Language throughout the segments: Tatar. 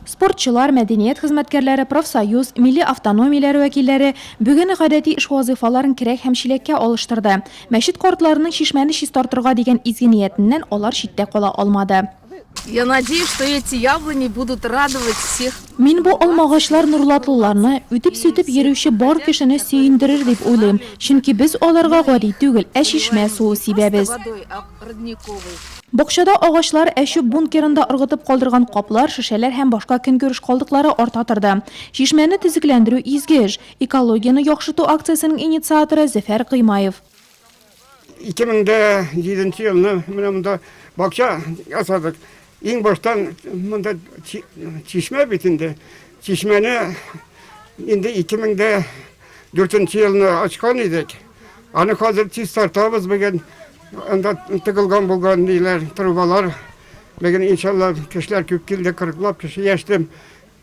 Спортчылар, мәдәният хезмәткәрләре, профсоюз, милли автономияләр вәкилләре бүген гадәти эш вазыйфаларын керәк һәм чиләккә алыштырды. Мәчет картларының чишмәне чистартырга дигән изге ниятеннән алар читтә кала алмады. Я надеюсь, что эти яблони будут радовать всех. Мин бу алмагачлар нурлатлыларны, үтеп-сүтеп йөрүче бар кешене сөендерер дип уйлыйм, чөнки без аларга гади түгел, ә чишмә суы сибәбез. родниковый. Бакчада агачлар, әчү бункерында ыргытып калдырган каплар, шешәләр һәм башка көнкүреш калдыклары арта торды. Чишмәне төзекләндерү, изге эш. Экологияне яхшырту акциясенең инициаторы, Зөфәр Гыймаев. 2007 елны менә монда бакча ясадык. Иң баштан монда чишмә бит инде. Чишмәне инде 2004 елны ачкан идек. Аны хәзер чистартабыз бүген. Анда тыгылган булган ниләр, трубалар. Бүген иншалла кешеләр күп килде, 40 лап кеше яшьтем.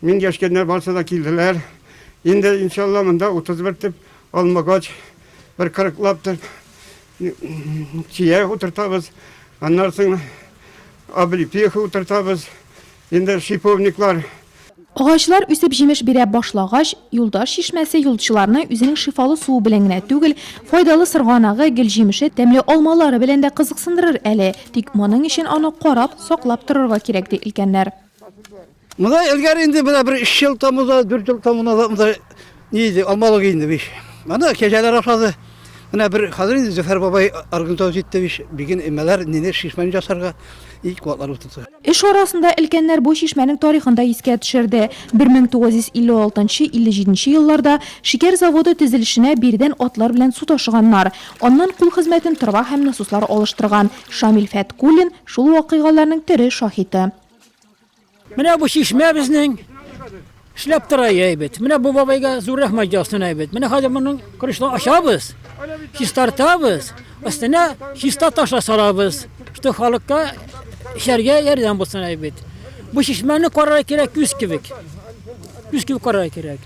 Мин яшькәндә барсы да килделәр. Инде иншалла монда 31 төп алмагач, бер 40 лап төп Чия утыртабыз, аннан соң облепиха утыртабыз, инде шиповниклар. Агачлар үсеп җимеш бирә башлагач, Юлдаш чишмәсе юлчыларны үзенең шифалы суы белән генә түгел, файдалы сырганагы, гөлҗимеше, тәмле алмалары белән дә кызыксындырыр әле. Тик моның өчен аны карап, саклап торырга кирәк, ди өлкәннәр. Монда элгәре инде менә бер өч ел тамызда, дүрт ел тамызда монда ни иде, алмалык инде биш. Аны кәҗәләр ашады. Менә бер хәзер инде Зөфәр бабай организовать итте биш. Биген эмәләр, ниләр шишмәне жасарга ит куатлар утырды. Эш арасында өлкәннәр бу чишмәнең тарихын да искә төшерде. 1956-57 елларда шикәр заводы төзелешенә биредән атлар белән су ташыганнар. Аннан кул хезмәтен тырба һәм насослар алыштырган Шамил Фәткуллин шул вакыйгаларның тере шаһиты. Менә бу чишмә безнең эшләп тора әйбәт. Менә бу бабайга зур рәхмәт ясыйм әйбәт. Менә хәзер моның крышны ачабыз, чистартабыз, өстенә чиста ташлар салабыз, что халыкка эчәргә ярдәм булсын әйбәт. Бу чишмәне карарга кирәк күз кебек. Күз кебек карарга кирәк.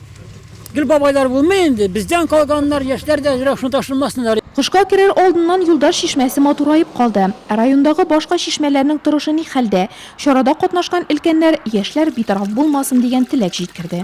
Гел бабайлар булмый инде, бездән калганнар, яшьләр дә әзрәк шуны ташламасыннар. Кышка керер алдыннан Юлдаш чишмәсе матураеп калды. Ә райондагы башка чишмәләрнең торышы ни хәлдә? Чарада катнашкан өлкәннәр яшьләр битараф булмасын дигән теләк җиткерде.